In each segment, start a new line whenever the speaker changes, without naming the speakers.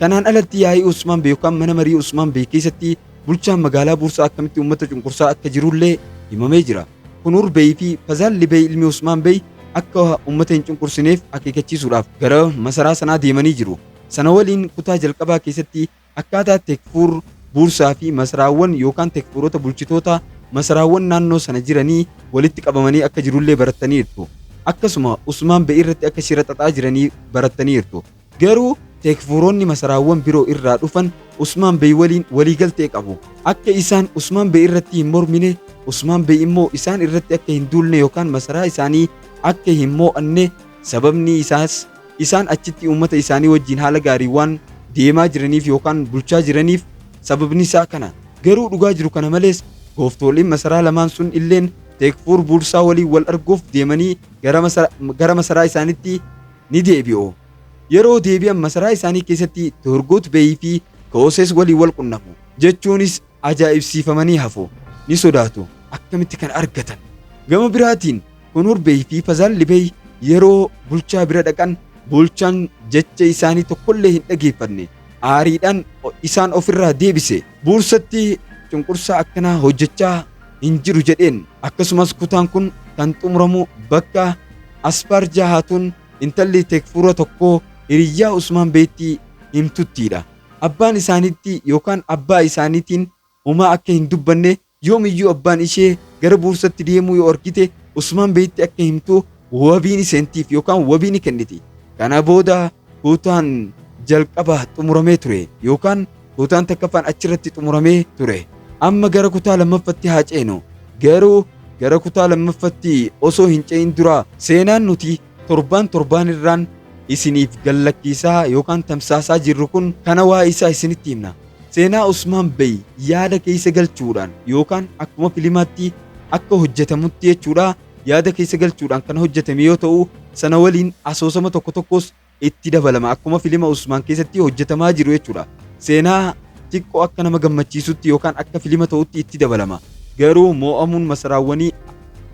Kanaan alatti yaa'ii Usmaan Bee yookaan mana marii Usmaan Bee keessatti bulchaan magaalaa Buursaa akkamitti uummata cunqursaa akka jirullee himamee jira. Kunuur Bey fi Fazaalli Bey ilmi Usmaan Bey akka uummata hin cunqursineef akeekachiisuudhaaf gara masaraa sanaa deemanii jiru. Sana waliin kutaa jalqabaa keessatti akkaataa tekfuur buursaa fi masaraawwan yookaan tekfuurota bulchitoota masaraawwan naannoo sana jiranii walitti qabamanii akka jirullee barattaniirtu. Akkasuma Usmaan Bey irratti akka shira xaxaa jiranii barattaniirtu. Garuu Teekfuuronni masaraawwan biroo irraa dhufan Usmaan Bey waliin waliigaltee qabu. Akka isaan Usmaan Bey irratti hin mormine, Usmaan Bey immoo isaan irratti akka hin duulne yookaan masaraa isaanii akka hin moo'anne, sababni isaas isaan achitti uummata isaanii wajjin haala gaariin waan deemaa jiraniif yookaan bulchaa jiraniif sababni isaa kana. Garuu dhugaa jiru kana malees gooftooliin masaraa lamaan sun illeen Teekfuur Buursaa waliin wal arguuf deemanii gara masaraa isaanitti ni deebi'u. Yeroo deebi'an masaraa isaanii keessatti Turgut Bey fi Kooses waliin wal qunnamu. Jechuunis ajaa'ibsiifamanii hafu. Ni sodaatu. Akkamitti kana argatan? Gama biraatiin Kunur Bey fi Fazalli Bey yeroo bulchaa bira dhaqan bulchaan jecha isaanii tokkollee hin dhageeffanne. Aariidhaan isaan ofirraa deebise. Buursatti cunqursaa akkanaa hojjechaa hin jiru jedheen. Akkasumas kutaan kun kan xumuramu bakka Asfaar Jahaatuun intalli Tekfuura tokko hiriyyaa Usmaan Beetti himtuttiidha. Abbaan isaaniitti yookaan abbaa isaaniitiin homaa akka hin dubbanne, yoomiyyuu abbaan ishee gara buursatti deemuu yoo argite Usmaan Beetti akka himtu wabii ni seentiif yookaan wabii ni kenniti. Kana booda kutaan jalqaba xumuramee ture yookaan kutaan takkaffaan achirratti xumuramee ture. Amma gara kutaa lammaffatti haa ceenu. Garuu gara kutaa lammaffatti osoo hin ce'in dura seenaan nuti torbaan torbaan irraan isiniif gallakkiisaa yookaan tamsaasaa jirru kun kana waa isaa isinitti himna. Seenaa Usmaan Bey yaada keessa galchuudhaan yookaan akkuma filimaatti akka hojjetamutti jechuudha yaada keessa galchuudhaan kan hojjetame yoo ta'u, sana waliin asoosama tokko tokkos itti dabalama akkuma filima Usmaan keessatti hojjetamaa jiru jechuudha. Seenaa xiqqoo akka nama gammachiisutti yookaan akka filima ta'utti itti dabalama. Garuu moo'amuun masaraawwanii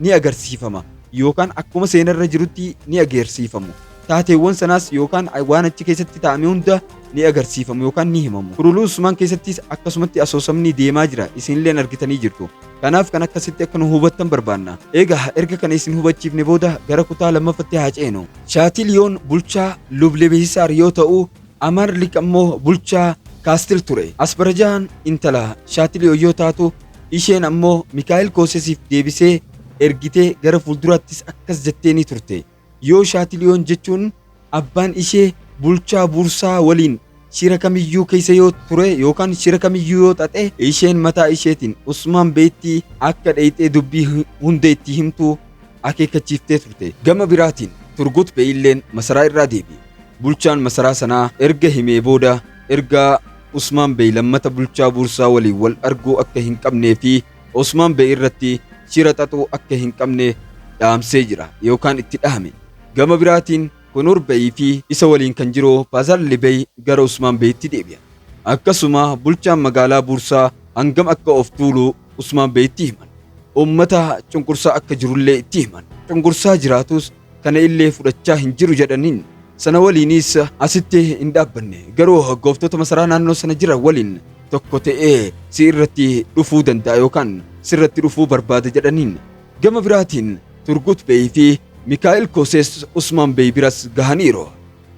ni agarsiifama yookaan akkuma seenarra jirutti ni agarsiifamu. Taateewwan sanaas yookaan waan achi keessatti ta'ame hunda ni agarsiifamu yookaan ni himamu. Kuruluu Usmaan keessattis akkasumatti asoosamni deemaa jira isinilleen argitanii jirtu. Kanaaf kan akkasitti akka nu hubattan barbaanna. Eegaa erga kana isin hubachiifne booda gara kutaa lammaffatti haa ceenu. Shaatiliyoon bulchaa Lublebehisaar yoo ta'u, Amaarlik ammoo bulchaa Kaastil ture. Asbarajaan intala Shaatiliyoo yoo taatu, isheen ammoo Mikaa'el Koosesiif deebisee ergitee gara fuulduraattis akkas jettee ni turte. Yoo Shaatiliyoon jechuun abbaan ishee bulchaa Bursaa waliin shira kamiyyuu keessa yoo ture yookaan shira kamiyyuu yoo xaxe isheen mataa isheetiin Usmaan Beettii akka dheeyxee dubbii hunda itti himtu akeekkachiiftee turte. Gama biraatiin Turgut Beeyilleen masaraa irraa deebi'e. Bulchaan masaraa sanaa erga himee booda ergaa Usmaan Beey lammata bulchaa Bursaa waliin wal arguu akka hin qabnee fi Osmaan Bey irratti shira xaxuu akka hin qabne dhaamsee jira yookaan itti dhahame. Gama biraatiin Konoor Bey fi isa waliin kan jiru Paazaalli Bey gara Usmaan Beyitti deebi'an. Akkasuma bulchaan magaalaa Buursaa hangam akka of tuulu Usmaan Beyitti himan. Uummata cunqursaa akka jirullee itti himan. Cunqursaa jiraatus kana illee fudhachaa hin jiru jedhaniin sana waliinis asitti hin dhaabbanne garuu gooftota masaraa naannoo sana jiran waliin tokko ta'ee si irratti dhufuu danda'a yookaan sirratti dhufuu barbaada jedhaniin gama biraatiin turgut bey fi mikaa'el kosees usmaan bey biras gahaniiru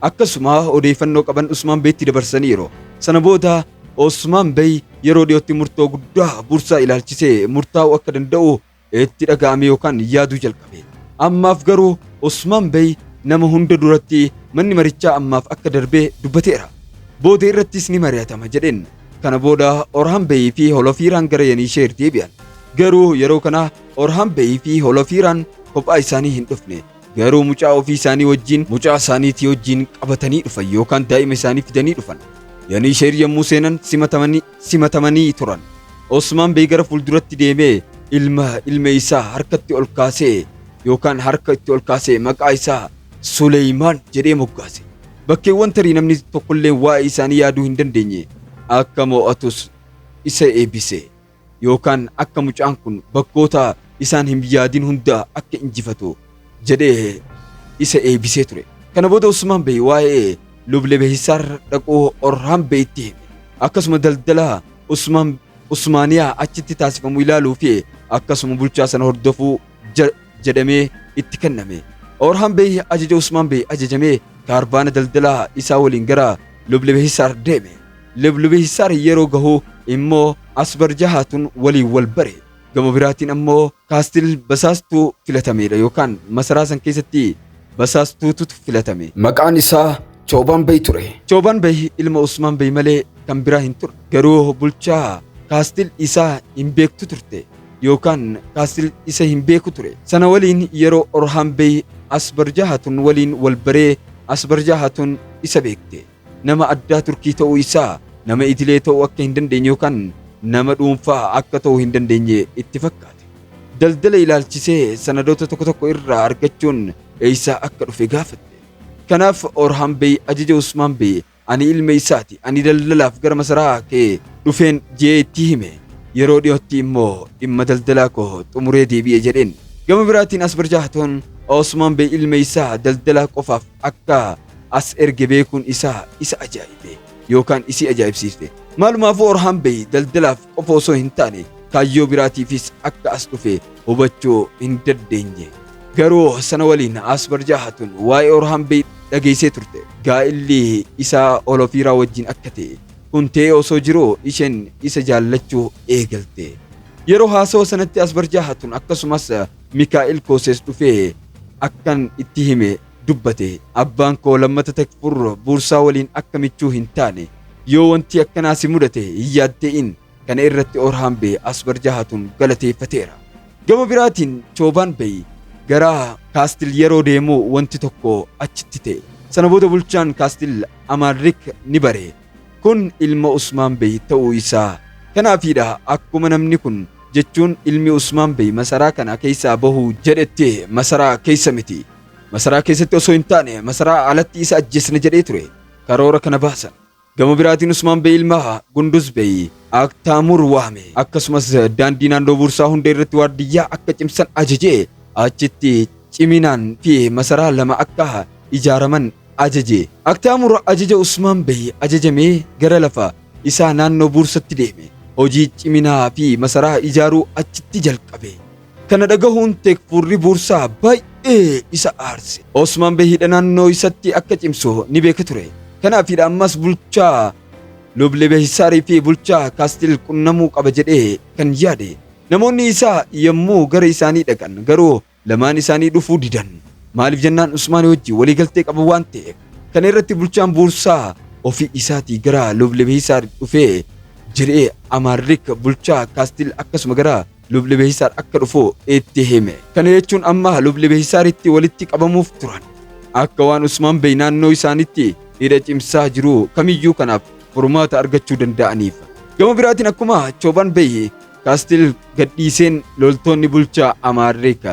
akkasuma odeeffannoo qaban usmaan beetti dabarsaniiru sana booda usmaan bey yeroo dhiyootti murtoo guddaa bursaa ilaalchisee murtaa'uu akka danda'u itti dhaga'amee yookaan yaaduu jalqabe. Ammaaf garuu Usmaan Bey nama hunda duratti manni marichaa ammaaf akka darbe dubbateera. Booda irrattis ni mari'atama jedheen. Kana booda Orhaan Beyii fi Holofiiraan gara Yaniisheer deebi'an. Garuu yeroo kana Orhaan Beyii fi Holofiiraan kophaa isaanii hin dhufne. Garuu mucaa ofii isaanii wajjin mucaa isaaniitii wajjin qabatanii dhufan yookaan daa'ima isaanii fidanii dhufan. Yaniisheer yommuu seenan simatamanii simatamanii turan. Osmaan Bey gara fuulduratti deemee ilma ilma isaa harkatti ol kaasee yookaan harka itti ol kaasee maqaa isaa Suleeymaan jedhee moggaase. Bakkeewwan tarii namni tokkolleen waa'ee isaanii yaaduu hin dandeenye akka mo'atus isa eebbise yookaan akka mucaan kun bakkoota isaan hin yaadin hunda akka injifatu jedhee isa eebisee ture. Kana booda Usmaan Bey waa'ee Luble Behisaar dhaquu Orhaan Beyitti hime. Akkasuma daldala Usmaan Usmaaniyaa achitti taasifamu ilaaluu fi akkasuma bulchaa sana hordofuu ja- jedhamee itti kenname. Orhaan Bey ajaja Usmaan Bey ajajamee kaarvaana daldalaa isaa waliin gara Luble Behisaar deeme. Luble Behisaar yeroo gahu immoo Asbarjahaatun waliin wal bare. Gama biraatiin ammoo Kaastil basaastuu filatameedha yookaan masaraa san keessatti basaastuututu filatame. Maqaan isaa Choobaan Bey ture. Choobaan Bey ilma Usmaan Bey malee kan biraa hin turre. Garuu bulchaa Kaastil isaa hin beektu turte yookaan Kaastil isa hin beeku ture. Sana waliin yeroo Orhaan Bey Asbarjaa Hatun waliin wal baree Asbarjaa Hatun isa beekte. Nama addaa Turkii ta'uu isaa nama idilee ta'uu akka hin dandeenye yookaan nama dhuunfaa akka ta'uu hin dandeenye itti fakkaate. Daldala ilaalchisee sanadoota tokko tokko irraa argachuun eessaa akka dhufe gaafatte. Kanaaf Orhaan Bey ajaja Usmaan Bey ani ilma isaati ani daldalaaf gara masaraa kee dhufeen jedhee itti hime. Yeroo dhiyootti immoo dhimma daldalaa koo xumuree deebi'e jedheen. Gama biraatiin Asbarjaahtoon Osmaan Bey ilma isaa daldalaa qofaaf akka as erge beekuun isaa isa ajaa'ibe yookaan isii ajaa'ibsiifte. Maalumaafuu Orhaan Bey daldalaaf qofa osoo hin taane kaayyoo biraatiifis akka as dhufe hubachuu hin dandeenye. Garuu sana waliin Asbarjaa Hatun waa'ee Orhaan Bey dhageessee turte. Gaa'illi isaa Olofiiraa wajjin akka ta'e kun ta'ee osoo jiruu isheen isa jaallachuu eegalte. Yeroo haasawa sanatti Asbarjaa Hatun akkasumas Mikaa'il Koosees dhufee akkan itti hime dubbate. Abbaan koo lammata Tekfur Buursaa waliin akka michuu hin taane. Yoo wanti akkanaa si mudate hin yaadde'in. Kana irratti Orhaan Bey Asbarjaa Hatun galateeffateera. Gama biraatiin Choobaan Bey gara Kaastil yeroo deemu wanti tokko achitti ta'e. Sana booda bulchaan Kaastil Amaanrik ni bare. Kun ilma Usmaan Bey ta'uu isaa. Kanaafiidha akkuma namni kun, jechuun ilmi Usmaan Bey masaraa kana keessaa bahu jedhetti masaraa keessa miti. Masaraa keessatti osoo hin taane masaraa alatti isa ajjeesna jedhee ture. Karoora kana baasan. Gama biraatiin Usmaan Bey ilmaa Gunduz Bey Aktaamuur waame. Akkasumas daandii naannoo Buursaa hundee irratti waardiyyaa akka cimsan ajaje. Achitti ciminaan fi masaraa lama akka ijaaraman ajaje. Aktaamuur ajaja Usmaan Bey ajajamee gara lafa isaa naannoo Buursatti deeme. Hojii ciminaa fi masaraa ijaaruu achitti jalqabe. Kana dhagahuun Teekfuurri Buursaa baay'ee isa aarse. Osmaan Behiidha naannoo isatti akka cimsu ni beeka ture. Kanaafiidha ammas bulchaa Luble Behisaarii fi bulchaa Kaastil qunnamuu qaba jedhee kan yaade. Namoonni isaa yommuu gara isaanii dhaqan garuu lamaan isaanii dhufuu didan. Maaliif jennaan Usmaanii wajjin waliigaltee qabu waan ta'eef. Kana irratti bulchaan Buursaa ofii isaatii gara Luble Behisaar dhufee jedhee Amaarrik bulchaa Kaastil akkasuma gara Lubni Behisaar akka dhufu itti hime. Kana jechuun amma lubni Behisaaritti walitti qabamuuf turan. Akka waan Usmaan Bey naannoo isaanitti hidha cimsaa jiru kamiyyuu kanaaf furmaata argachuu danda'aniif. Gama biraatiin akkuma Choobaan Bey Kaastil gadhiiseen loltoonni bulchaa Amaarrik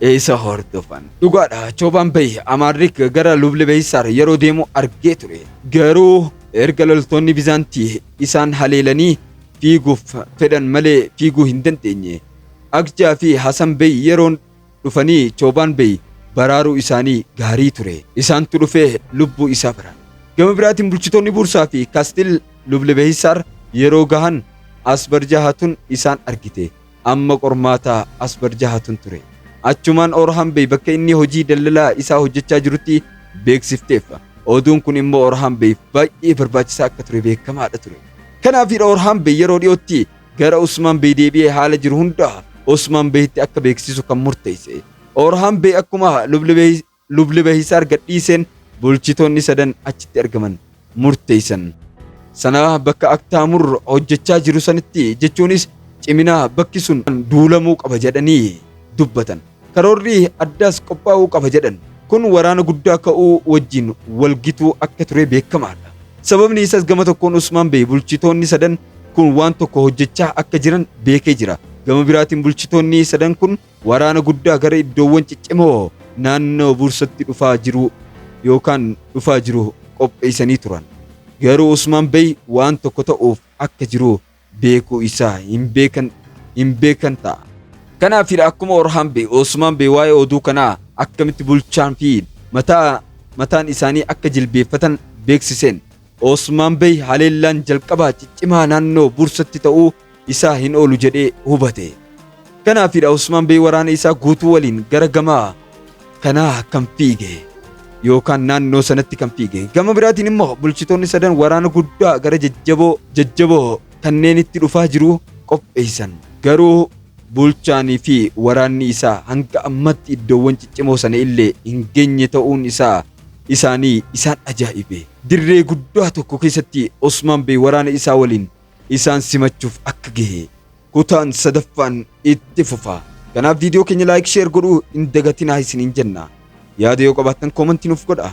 isa hordofan. Dhugaadha Choobaan Bey Amaarrik gara lubni Behisaar yeroo deemu argee ture. Garuu erga loltoonni Bizaantii isaan haleelanii fiiguuf fedhan malee fiiguu hin dandeenye. Akjaa fi Hasan Bey yeroon dhufanii Choobaan Bey baraaruu isaanii gaarii ture. Isaantu dhufee lubbuu isaa baraare. Gama biraatiin bulchitoonni Buursaa fi Kastil Lublebehisaar yeroo gahan Asbarjahatun isaan argite. Amma qormaata Asbar Jahatun ture. Achumaan Orhan Bey bakka inni hojii daldalaa isaa hojjechaa jirutti beeksifteef. Oduun kun immoo Orhan Beyf baay'ee barbaachisaa akka ture beekamaadha ture. Kanaafidha Orhan Bey yeroo dhiyootti gara Usmaan Bey deebi'ee haala jiru hunda Usmaan Beyitti akka beeksisu kan murteesse. Orhan Bey akkuma Lubli Bey Lubni bahiisaar gadhiiseen bulchitoonni sadan achitti argaman murteessan. Sana bakka Aktaamur hojjechaa jiru sanitti jechuunis cimina bakki sun duulamuu qaba jedhanii dubbatan. Karoorri addaas qophaa'uu qaba jedhan. Kun waraana guddaa ka'uu wajjin wal gituu akka ture beekamaadha. Sababni isas gama tokkoon Usmaan Bey bulchitoonni sadan kun waan tokko hojjechaa akka jiran beekee jira. Gama biraatiin bulchitoonni sadan kun Waraana guddaa gara iddoowwan ciccimoo naannoo Buursatti dhufaa jiru yookaan dhufaa jiru qopheessanii turan. Garuu Usmaan Bey waan tokko ta'uuf akka jiru beekuu isaa hin beekan hin beekan ta'a. Kanaafidha akkuma Orhaan Bey, Usmaan Bey waa'ee oduu kanaa akkamitti bulchaan fi mataa mataan isaanii akka jilbeeffatan beeksiseen. Usmaan Bey haleellaan jalqabaa ciccimaa naannoo Buursatti ta'uu isaa hin oolu jedhee hubate. Kanaafidha Usmaan Bey waraana isaa guutuu waliin gara gama kanaa kan fiige yookaan naannoo sanatti kan fiige. Gama biraatiin immoo bulchitoonni sadan waraana guddaa gara jajjaboo jajjaboo kanneenitti dhufaa jiru qopheessan. Garuu bulchaanii fi waraanni isaa hanga ammatti iddoowwan ciccimoo sana illee hin geenye ta'uun isaa isaanii isaan ajaa'ibe. Dirree guddaa tokko keessatti Usmaan Bey waraana isaa waliin isaan simachuuf akka gahe kutaan sadaffaan itti fufa. Kanaaf viidiyoo keenya laayik sheer godhuu hin dagatinaa isiniin jenna. Yaada yoo qabaattan koomantii nuuf godhaa.